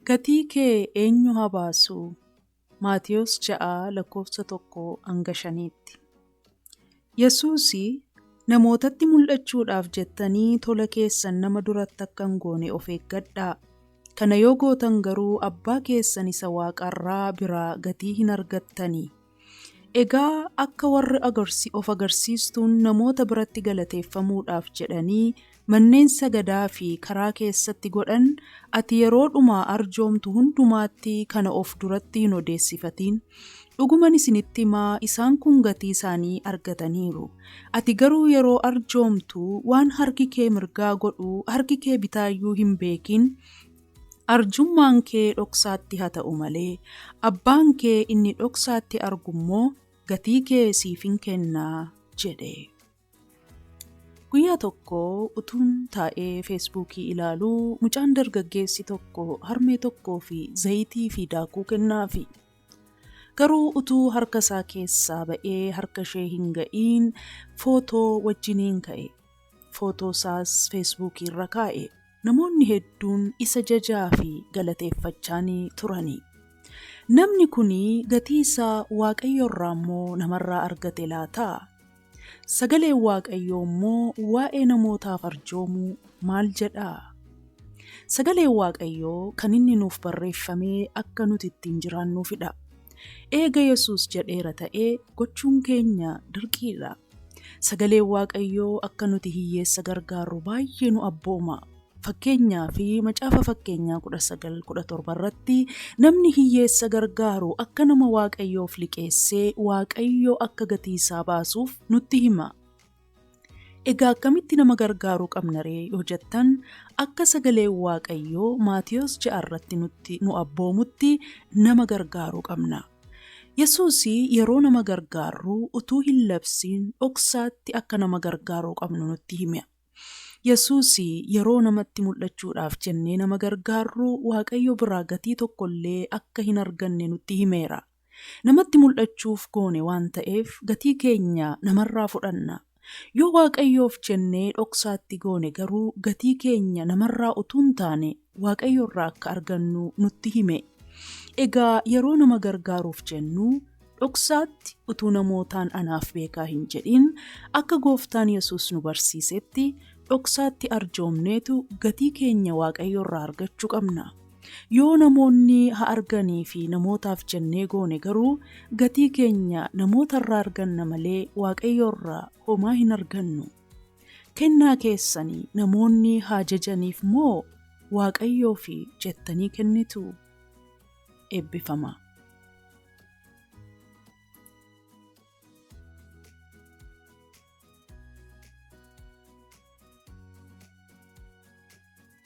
Gatii kee eenyu haa baasu? Maatewos 6 lakkoofsa 1-5tti. Yesuus, Namootatti mul'achuudhaaf jettanii tola keessan nama duratti akka hin goone of eeggadhaa, kana yoo gootan garuu Abbaa keessan isa waaqarraa biraa gatii hin argattani Egaa akka warri agarsi of agarsiistuun namoota biratti galateeffamuudhaaf jedhanii manneen sagadaa fi karaa keessatti godhan ati yeroo dhuma arjoomtu hundumaatti kana of duratti hin odeessifatiin. Dhuguman isinitti hima isaan kun gatii isaanii argataniiru. Ati garuu yeroo arjoomtu waan harki kee mirgaa godhu harki kee bitaa iyyuu hin beekiin. Arjummaan kee dhoksaatti haa ta'u malee, Abbaan kee inni dhoksaatti argu immoo gatii kee siif in kenna jedhe. Guyyaa tokko utuun taa'ee Feesbuukii ilaaluu, mucaan dargaggeessi tokko harmee tokkoo fi zayitii fi daakuu kennaafi. Garuu utuu harka isaa keessaa ba'ee harka ishee hin ga'iin footoo wajjiniin ka'e. Footoo isaas Feesbuukii irra kaa'e. Namoonni hedduun isa jajaa fi galateeffachaa ni turani. Namni kun gatii isaa Waaqayyo irraa immoo namarraa argate laata? Sagaleen Waaqayyoo immoo waa'ee namootaaf arjoomuu maal jedha? Sagaleen Waaqayyoo kan inni nuuf barreeffame akka nuti ittiin jiraannuufidha. Eega Yesuus jedheera ta'ee gochuun keenya dirqiidha. Sagaleen Waaqayyoo akka nuti hiyyeessa gargaarru baay'ee nu abbooma. Fakkeenyaaf, Macaafa Fakkeenyaa 19:17 irratti namni hiyyeessa gargaaru akka nama Waaqayyoof liqeessee Waaqayyo akka gatii isaa baasuuf nutti hima. Egaa akkamitti nama gargaaruu qabna ree yoo jettan, akka sagaleen Waaqayyoo Maatiyos 6 irratti nutti nu abboomutti nama gargaaruu qabna. Yesuus yeroo nama gargaarru utuu hin labsiin dhoksaatti akka nama gargaaruu qabnu nutti hime. Yesuus yeroo namatti mul'achuudhaaf jennee nama gargaarru Waaqayyo biraa gatii tokko illee akka hin arganne nutti himeera. Namatti mul'achuuf goone waan ta'eef gatii keenya namarraa fudhanna. Yoo Waaqayyoof jennee dhoksaatti goone garuu gatii keenya namarraa utuu hin taane Waaqayyorraa akka argannu nutti hime. Egaa yeroo nama gargaaruuf jennu dhoksaatti utuu namootaan anaaf beekaa hin jedhin akka Gooftaan Yesuus nu barsiisetti dhoksaatti arjoomneetu gatii keenya Waaqayyorraa argachuu qabna. Yoo namoonni ha arganii fi namootaaf jennee goone garuu gatii keenya namoota irraa arganna malee Waaqayyoo irraa homaa hin argannu. Kennaa keessani namoonni haa jajaniif moo Waaqayyoof jettanii kennitu? Eebbifamaa.